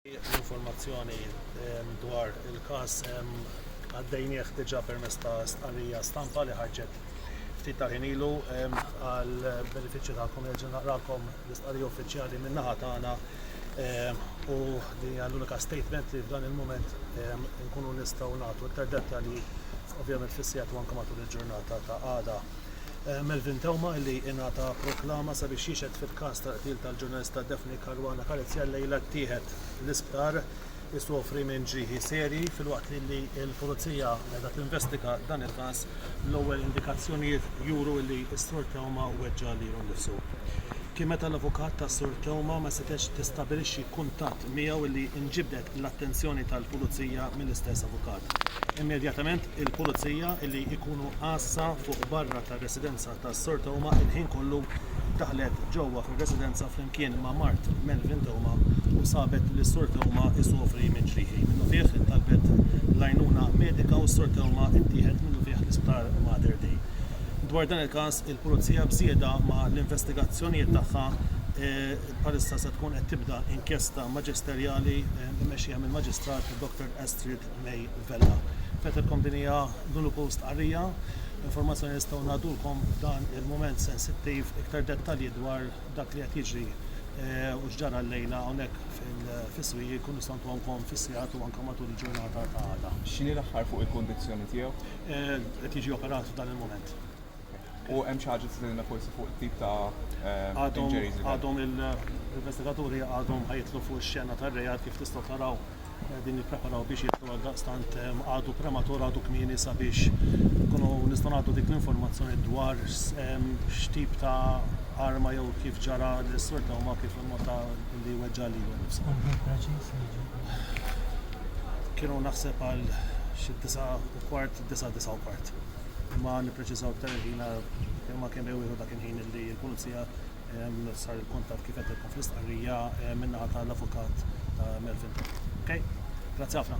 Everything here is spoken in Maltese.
L-informazzjoni dwar il-każ għaddejnieh diġà permezz ta' stqarrija stampa li ħarġet ftit tal-ħin ilu għal benefiċċju tagħkom nerġa' naqralkom l-istqarrija uffiċjali min-naħa tagħna u din hija l-unika statement li f'dan il-mument nkunu nistgħu nagħtu iktar dettalji ovvjament fis-sigħat u anke matul il-ġurnata ta' għada. Melvin Theuma li ingħata proklama sabiex jixhed fil-każ tal-qtil tal-ġurnalista Daphne Caruana Galizia llejla ttieħed l-isptar isofri minn ġrieħi serji filwaqt li l-Pulizija qiegħda tinvestiga dan il-każ l-ewwel indikazzjonijiet juru li s-Sur Theuma weġġa' lilu nnifsu. Kien meta l-avukat tas-Sur Theuma ma setgħetx tistabilixxi kuntatt miegħu li nġibdet l-attenzjoni tal-pulizija mill-istess avukat. Immedjatament il-pulizija li jkunu għassa fuq barra tar-residenza ta' Sor Theuma il-ħin kollu daħlet ġewwa fir-residenza flimkien ma' mart Melvin Theuma u sabet li Sur Theuma isofri minn ġrieħi minnufih talbet l-għajnuna medika u Sur Theuma ttieħed minnufih l-Isptar Mater Dei. Dwar dan il-każ il-pulizija b'żieda ma' l-investigazzjonijiet tagħha eh, Bħalissa se tkun qed tibda inkjesta maġisterjali mmexxija mill-Maġistrat Dr Astrid May Vella. Fettilkom din hija l-uniku stqarrija informazzjoni nistgħu ngħadulkom f'dan il-mument sensittiv iktar dettalji dwar dak li qed jiġri eh, u x'ġara l-lejla hawnhekk fis-swieq jkun nistgħu ntuhomkom fis-sigħat u anke matul il-ġurnata ta' għada. X'inhi l-aħħar fuq il-kundizzjoni tiegħu? Eh, qed jiġi operat f'dan il-mument. U hemm xi ħaġa tiżilna forsi fuq it-tip ta' injuries li Għadhom il-investigaturi għadhom ħajtlu fuq ix-xena tar-reat kif tistgħu taraw din nippreparaw biex jitlu għal daqstant għadu prematur għadu kmieni sabiex kunu nistgħu nagħtu dik l-informazzjoni dwar x'tip ta' arma jew kif ġara l-sur ta' huma kif il-mota li weġġa' li Kienu naħseb għal xi disa' kwart, disa' disa' kwart. Ma nippreċiżaw iktar il-ħin kemm ma kemm ewieħu dak il-ħin li l-Pulizija sar il-kuntatt kif qed fl-istqarrija min-naħa tal-Avukat ta' Melvin Tort. Okay? Grazzi ħafna.